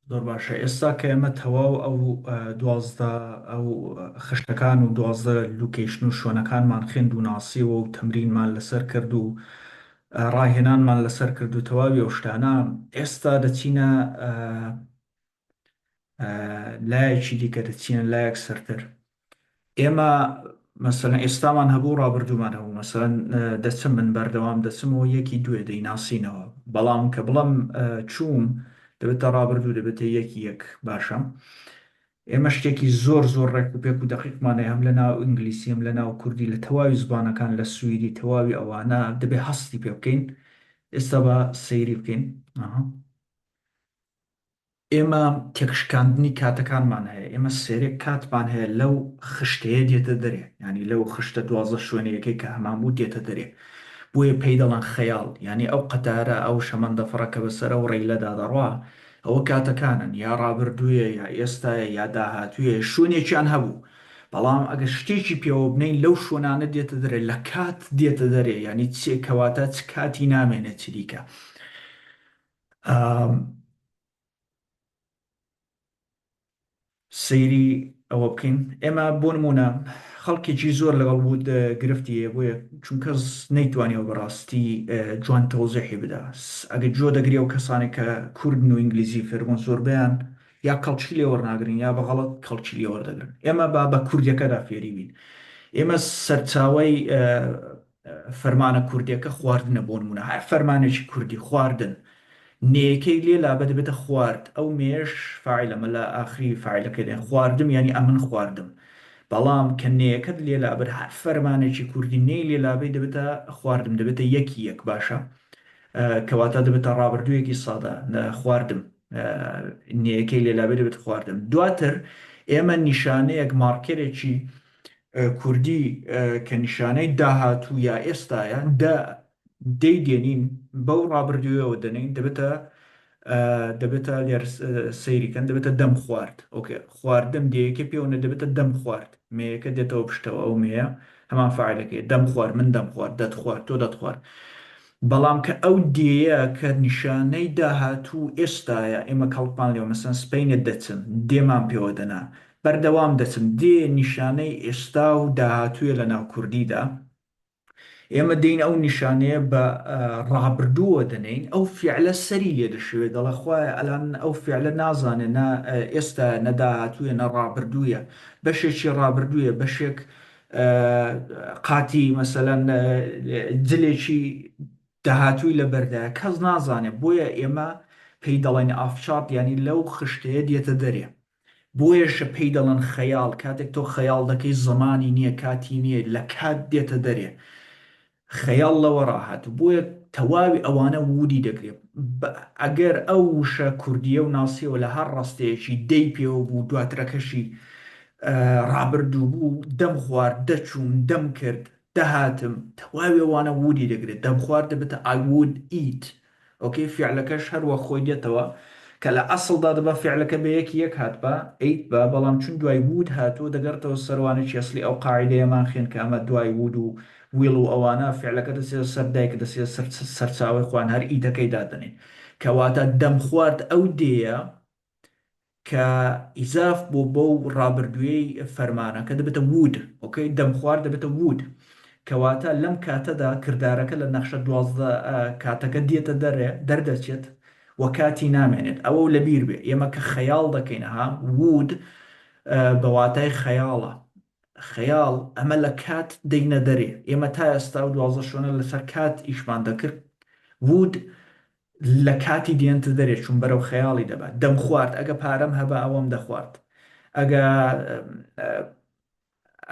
زۆر باشە ئێستا کە ئێمە تەواو ئەو دوازدە ئەو خشتەکان و دوازدە لوکیشن و شوێنەکانمان خوێند و ناسیەوە و تەمرینمان لەسەر کرد و ڕاهێنانمان لەسەر کرد و تەواوی ئەو شتانە ئێستا دەچینە لایەکی دیکە دەچینە لایەک سەرتر ئێمە مەسەلەن ئێستامان هەبوو ڕابردوومان هەبوو مەسەلەن دەچم من بەردەوام دەچمەوە یەکی دوێ دەیناسینەوە بەڵام کە بڵم چووم دەبێتە ڕابردوو دەبێتە یەکی یەک باشە ئێمە شتێکی زۆر زۆر ڕێک و پێک و دەقیقمانەیە هەم لە ناو ئینگلیسی هەم لە ناو کوردی لە تەواوی زبانەکان لە سوئیدی تەواوی ئەوانە دەبێ هەستی پێ بکەین ئێستا بە سەیری بکەین ئێمە تێکشکاندنی کاتەکانمان هەیە، ئێمە سێرێک کاتمان هەیە لەو خشتەیە دێتە دەرێ، یانی لەو خشتە دوازدە شوێنەیەکەی کە هەمان بوو دێتە دەرێ، بۆیە پێی دەڵێن خەیاڵ، یانی ئەو قەتارە، ئەو شەمەندەفڕە کە بەسەر ئەو ڕیلەدا دەڕوا، ئەوە کاتەکانن، یا ڕابردوویە، یا ئێستایە، یا داهاتوویە، شوێنێکیان هەبوو، بەڵام ئەگەر شتێکی پێوە بنێین لەو شوێنانە دێتە دەرێ، لە کات دێتە دەرێ، یانی چ کەواتە چ کاتی نامێنێ چریکە. سەیری ئەوە بکەین ئێمە بۆ نمونە خەڵکێکی زۆر لەگەڵ وود گرفتی هەیە بۆیە چون کەس نەیتوانیەوە بەڕاستی جوان تەوزیحی بدا ئەگە جۆ دەگرێ و کەسانێک کە کوردن و ئینگلیزی فێربوون زۆربیان یا کەڵکی لێ وەرناگرن یا بە غەڵەت کەڵکی لێ وەردەگرن ئێمە با بە کوردیەکەدا فێری بین ئێمە سەرچاوی فەرمانە کوردیەکە خواردنە بۆ نموونە هەر فەرمانێکی کوردی خواردن نێیەکەی لێ لابە دەبێتە خوارد ئەو نێیەش فاعیلە مەلا ئاخری فاعیلەکەی دێن خواردم یانی ئەمن خواردم بەڵام کە نێیەکەت لێ لابەر هەر فەرمانێکی کوردی نێی لێ لابەی دەبێتە خواردم دەبێتە یەکی یەک باشە کەواتە دەبێتە ڕابردوویەکی سادە خواردم نێیەکەی لێ لابێ دەبێت خواردم دواتر ئێمە نیشانەیەک مارکەرێکی کوردی کە نیشانەی داهاتوو یا ئێستایە دە دەی دێنین بەو ڕابردوویەوە دەنین دەبێتە دەبێتە لێر سەیریکەن دەبێتە دەم خوارد ئۆکێ خواردن دەیەکە پێوەە دەبێتە دەم خوارد مەیەکە دێتەوە پشتەوە ئەو مەیە هەمان فعلەکەی دەم خوار من دەم خوارد دەتخوارد تۆ دەتخوارد بەڵام کە ئەو دێیە کە نیشانەی داهاتوو ئێستاە ئێمە کەڵپان لێ مەسەن سپینە دەچن دێمان پێوە دەنا بەردەوام دەچن دێ نیشانەی ئێستا و داهاتوویە لە ناو کوردیدا ئێمە دێین ئەو نیشانەیە بە ڕابردووەوە دەنێین ئەو فیعلە سەری لێ دەشێوێ دەڵێ خوایە ئەلان ئەو فیعلە نازانێ نە ئێستایە نە داهاتوویە نە ڕابردوویە بەشێکی ڕابردوویە بەشێک قاتی مەسەلەن جلێکی داهاتووی لە بەردایە کەس نازانێ بۆیە ئێمە پێی دەڵێن ئافچات یانی لەو خشتەیە دێتە دەرێ بۆیەشە پێی دەڵێن خەیاڵ، کاتێک تۆ خەیاڵ دەکەی زەمانی نییە کاتی نییە لە کات دێتە دەرێ خەیاڵ لەوە ڕاهاتوو بۆیە تەواوی ئەوانە ووری دەگرێ بە ئەگەر ئەو وشە کوردییەو ناسیەوە لە هەر ڕەستەیەکی دەی پێوە بوو دواترەکەشی ڕابردوو بوو دەم خوارد دەچووم دەم کرد دەهاتم تەواوی ئەوانە ووری دەگرێ دەم خوارد دەبێتە I would eat ئۆکەی فیعلەکەش هەر وەک خۆی دێتەوە کە لە ئەسڵدا دەبا فیعلەکە بە یەکی یەک هاتبا، ئەیتبا، بەڵام چون دوای وود هاتووە دەگەڕێتەوە سەر وانەی ئەسڵی ئەو قاعیدەیەمان خێن کە ئەمە دوای وود و ویڵ و ئەوانە فیعلەکە دەچێتە سەر دایک دەچێتە سەر سەرچاوەی خوان هەر ئیتەکەی دادەنێین کە واتە دەمخوارد ئەو دێیە کە ئیزاف بۆ بەو ڕابردوویەی فەرمانەکە دەبێتە وود ئۆکەی دەم خوار دەبێتە وود کەواتە لەم کاتەدا کردارەکە لە نەخشە دوازدە کاتەکە دێتە دەرێ دەردەچێت و کاتی نامێنێت ئەوەو لەبیر بێ ئێمە کە خەیاڵ دەکەین ها وود بە واتای خەیاڵە خەیاڵ ئەمە لە کات دەینە دەرێ ئێمە تا ئێستا و دوازدە شۆنە لەسەر کات ئیشمان دەکرد وود لە کاتی دێنتە دەرێ چوون بەرەو خەیاڵی دەبات دەمخوارد ئەگە پارەم هەبا ئەوەم دەخوارد ئەگە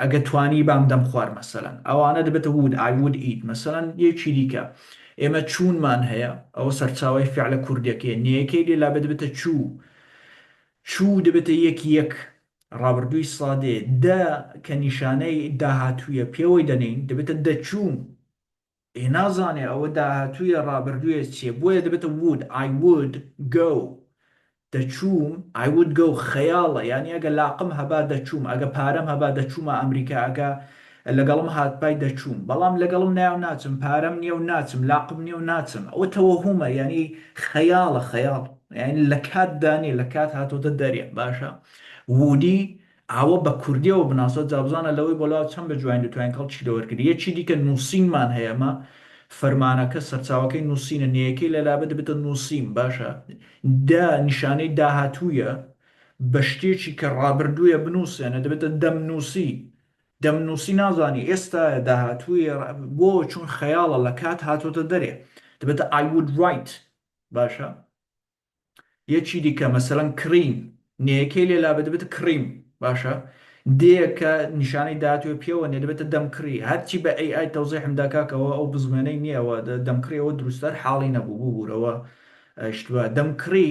ئەگە توانیبام دەمخوارد مەسەلەن ئەوانە دەبێتە وود ئای وود ئیت مەسەلەن یەکی دیکە ئێمە چوونمان هەیە ئەوە سەرچاوەی فعلە کوردیەکەیە نێیەکەی لێ لابێ دەبێتە چوو چوو دەبێتە یەک یەک ڕابردووی سادێ دە کە نیشانەی داهاتوویە پێوەی دەنێین دەبێتە دەچوو ئێ نازانێ ئەوە داهاتوویە ڕابردوویە چیە بۆیە دەبێتە would I would go دەچووم I would go خەیاڵە یانی ئەگە لاقم هەبا دەچووم ئەگە پارەم هەبا دەچوومە ئەمریکا ئەگە لەگەڵم هاتبای دەچووم بەڵام لەگەڵم نایەو ناچم پارەم نیەو ناچم لاقم نیەو ناچم ئەوە تەوەهومە یانی خەیاڵە خەیاڵ یانی لەکاتدا نیە لەکات هاتۆتە دەرێ باشە would ی ئاوە بە کوردیەوە بناسە جا بزانە لەوەی بۆ لاوە چەند بەجوانی دەتوانین کەڵکی لێوەرگری یەکی دیکە نوسینمان هەیە ئەمە فەرمانەکە سەرچاوەکەی نوسینە نێیەکەی لە لابە دەبێتە نوسین باشە دە نیشانەی داهاتوویە بە شتێکی کە ڕابردوویە بنوسێنە دەبێتە دەمنوسی دەمنوسی نازانی ئێستایە داهاتوویە ڕ بۆ چون خەیاڵە لە کات هاتۆتە دەرێ دەبێتە I would write باشە. یەکی دیکە مەسەلەن کڕین نێەکەی لێ لابێ دەبێتە کڕیم باشە دێەکە نیشانەی داهاتووە پێوە نیە دەبێتە دەمکڕی هەرچی بە ئەی ئای تەوزیحم دا کاکە ئەوە ئەو بزوێنەی نیە ئەوە دەمکڕی ئەوە دروستتر حاڵی نەبوو ببوورەوە ئەیشتووە دەمکڕی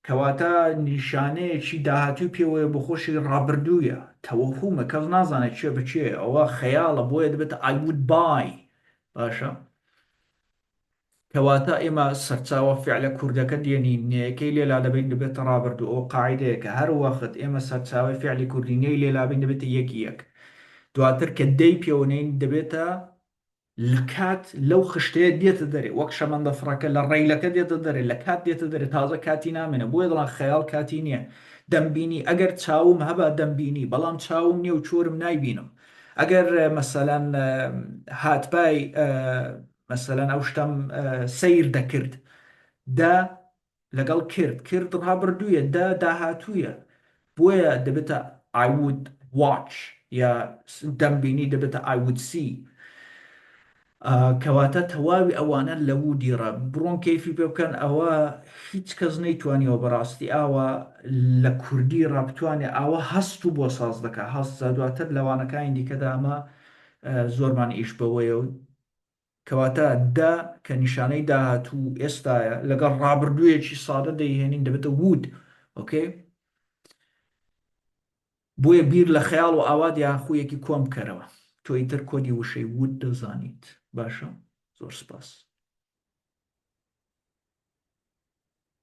کەواتە نیشانەیەکی داهاتووی پێوەیە بۆ خۆشی ڕابردوویە تەوەهومە کەس نازانێت چێ بچێ ئەوە خەیاڵە بۆیە دەبێتە I would buy باشە کەواتە ئێمە سەرچاوە فعلە کوردەکە دێنین نەیەکەی لێ لادەبەین دەبێتە ڕابردوو ئەوە قاعیدەیەکە هەر وەخت ئێمە سەرچاوەی فعلی کوردی نەی لێ لابەین دەبێتە یەکی یەک دواتر کە دەی پێوە نێین دەبێتە لە کات لەو خشتەیە دێتە دەرێ وەک شەمەندە فڕەکە لە ڕەیلەکە دێتە دەرێ لە کات دێتە دەرێ تازە کاتی نامێنێ بۆیە دەڵێن خەیاڵ کاتی نییە دەمبینی ئەگەر چاوم هەبا دەمبینی بەڵام چاوم نییە و چۆرم نایبینم ئەگەر مەسەلەن هاتبای مەسەلەن ئەو شتەم سەیر دەکرد، دە لەگەڵ کرد، کرد ڕابردوویە، دە داهاتوویە، بۆیە دەبێتە I would watch یا دەمبینی دەبێتە I would see. کەواتە تەواوی ئەوانە لە would ی ڕا بڕۆن کەیفی پێ بکەن، ئەوە هیچ کەس نەیتوانیوە بەڕاستی ئاوا لە کوردی ڕا بتوانێ ئاوا هەست و بۆ ساز دەکا هەست، جا دواتر لە وانەکانی دیکەدا ئەمە زۆرمان ئیش بەوەیە و کەواتە دە کە نیشانەی داهاتوو ئێستایە لەگەڵ ڕابردوویەکی سادە دەیهێنین دەبێتە would ئۆکەی بۆیە بیر لە خەیاڵ و ئاوات یان خوویەکی کۆن بکەرەوە تۆ ئیتر کۆدی وشەی would دەزانیت باشە زۆر سپاس.